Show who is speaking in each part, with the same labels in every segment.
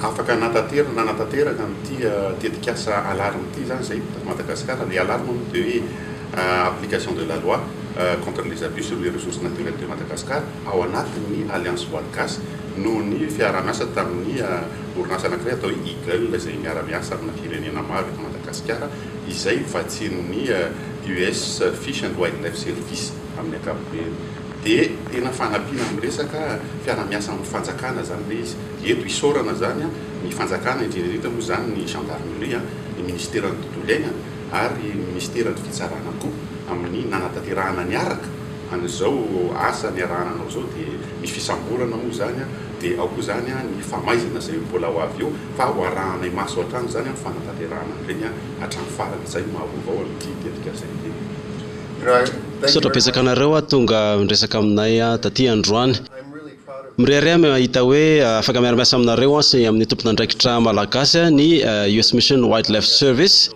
Speaker 1: Afaka hanatanteraka na hanatanteraka an'ity tetikasa Alarme ity izany izay eto Madagasikara. Ny Alarme moa dia hoe Application de la loi contre les abus sur les ressources naturelles de Madagascar ao anatin'ny Alliance Voaly Gasy noho ny fiaraha-miasa tamin'ny orinasa anankiray atao hoe Eagle izay miara-miasa amina firenena maro eto Madagasikara izay vatsian'ny US Fish and Wildlife Service amin'ny ankapobeny. Dia tena fanampiana amin'ny resaka fiaraha-miasa amin'ny fanjakana izany ilay izy. Eto isaorana izany ny fanjakana indrindra indrindra moa izany ny gendarmerie, ny ministeran'ny tontolo iainana ary ny ministeran'ny fitsarana koa amin'ny nanatanterahana niaraka an'izao asa niarahana anao izao dia ny fisamborana moa izany dia ao koa izany ny famaizana izay mbola ho avy eo fa ho arahanay maso hatrany izany amin'ny fanatanterahana an'ireny hatramin'ny farany, izay no mahavaovao amin'ity tetika izay ity. Misaotra betsaka
Speaker 2: anareo tonga miresaka aminay taty androany. Mirehareha aho mahita hoe afaka miara-miasa aminareo sy amin'ny tompon'andraikitra malagasy ny US Mission Wildlife Service.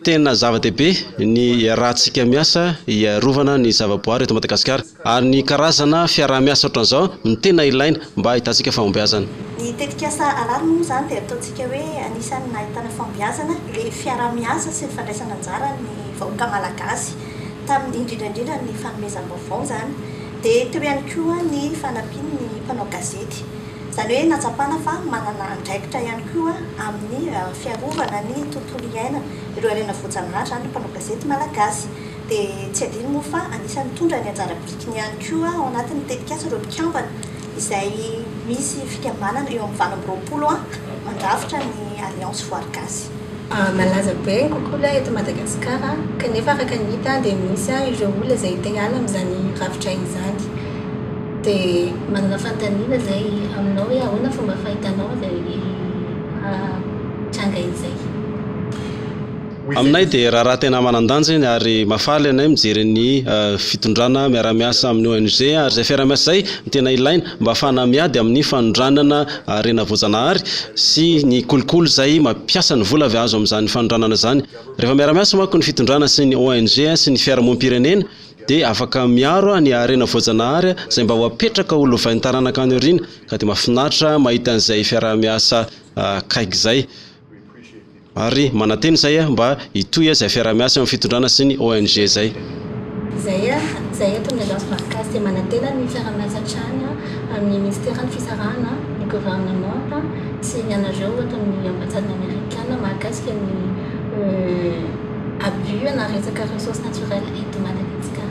Speaker 2: Tena zava-dehibe ny iarahantsika miasa hiarovana ny zavaboary eto Madagasikara, ary ny karazana fiaraha-miasa ohatran'izao no tena ilaina mba hahitantsika fahombiazana. Ny tetikasa
Speaker 3: Arary moa izany dia ataontsika hoe anisan'ny nahitana fahombiazana ilay fiaraha-miasa sy ny fandraisana anjara ny vahoaka malagasy tamin'ny indrindra indrindra ny fanomezam-baovao izany. Dia teo ihany koa ny fanampian' ny mpanao gazety. Izany hoe nahatsapana fa manana andraikitra ihany koa amin' ny fiarovana ny tontolo iainana, ireo harena voajanahary izany ny mpanao gazety malagasy. Dia tsy adino moa fa anisan' ny nitondra ny anjara birikiny ihany koa ao anatin' ny tetikasa ireo mpikambana. izay misy fikambanana eo amin'ny valo amby roapolo mandrafitra ny Alliance Voary Gasy. Malaza
Speaker 4: be ny kokola eto Madagasikara kanefa araka ny hita dia misy ireo olona izay te hiala amin'izany rafitra izany. Dia manana fanontaniana izay aminao hoe ahoana fomba fahitanao izay tranga izay? Aminay
Speaker 2: dia raharaha tena manan-danja iny ary mahafaly anay mijery ny fitondrana miara-miasa amin'ny ONG ary izay fiaraha-miasa izay no tena ilaina mba hahafahana miady amin'ny fanondranana harena voajanahary sy ny kolikoly izay mampiasa ny vola avy azo amin'izany fanondranana izany. Rehefa miara-miasa manko ny fitondrana sy ny ONG sy ny fiarahamonim-pirenena dia afaka miaro ny harena voajanahary izay mba ho apetraka ho lovain'ny taranaka any aoriana ka dia mahafinaritra mahita an'izay fiaraha-miasa akaiky izay. Ary manantena izay mba hitohy izay fiaraha-miasa eo amin'ny fitondrana sy ny ONG izay. Izay
Speaker 4: izay eto amin'ny Agence Barcas dia manantena ny fiaraha-miasa hatrany amin'ny Minisiteran'ny Fisarahana, ny Governemanta sy ny anareo ato amin'ny Ambasadin'ny Amerikana mahakasika ny. abus na resaka ressources naturelles eto Madagasikara.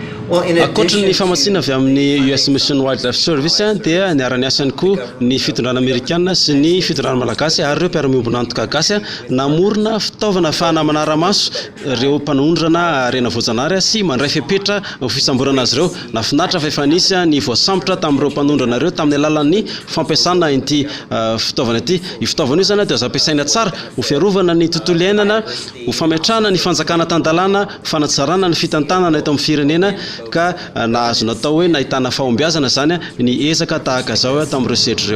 Speaker 4: Ankoatry ny
Speaker 2: famatsiana avy amin'ny US Mission Wildlife Service dia niara-niasa ihany koa ny fitondrana amerikana sy ny fitondrana malagasy ary ireo mpiara-miombon'antoka gasy namorona fitaovana afahana manara-maso ireo mpanondrana harena voajanahary sy mandray fepetra ho fisamborana azy ireo. Nahafinaritra fa efa nisy ny voasambotra tamin'ireo mpanondrana ireo tamin'ny alalan'ny fampiasana ity fitaovana ity. Io fitaovana io izany dia azo ampiasaina tsara ho fiarovana ny tontolo iainana ho fametrahana ny fanjakana tan-dalàna, fanatsarana ny fitantanana eto amin'ny firenena ka nahazo natao hoe nahitana fahombiazana izany ny ezaka tahaka izao tamin'ireo sedra ireo.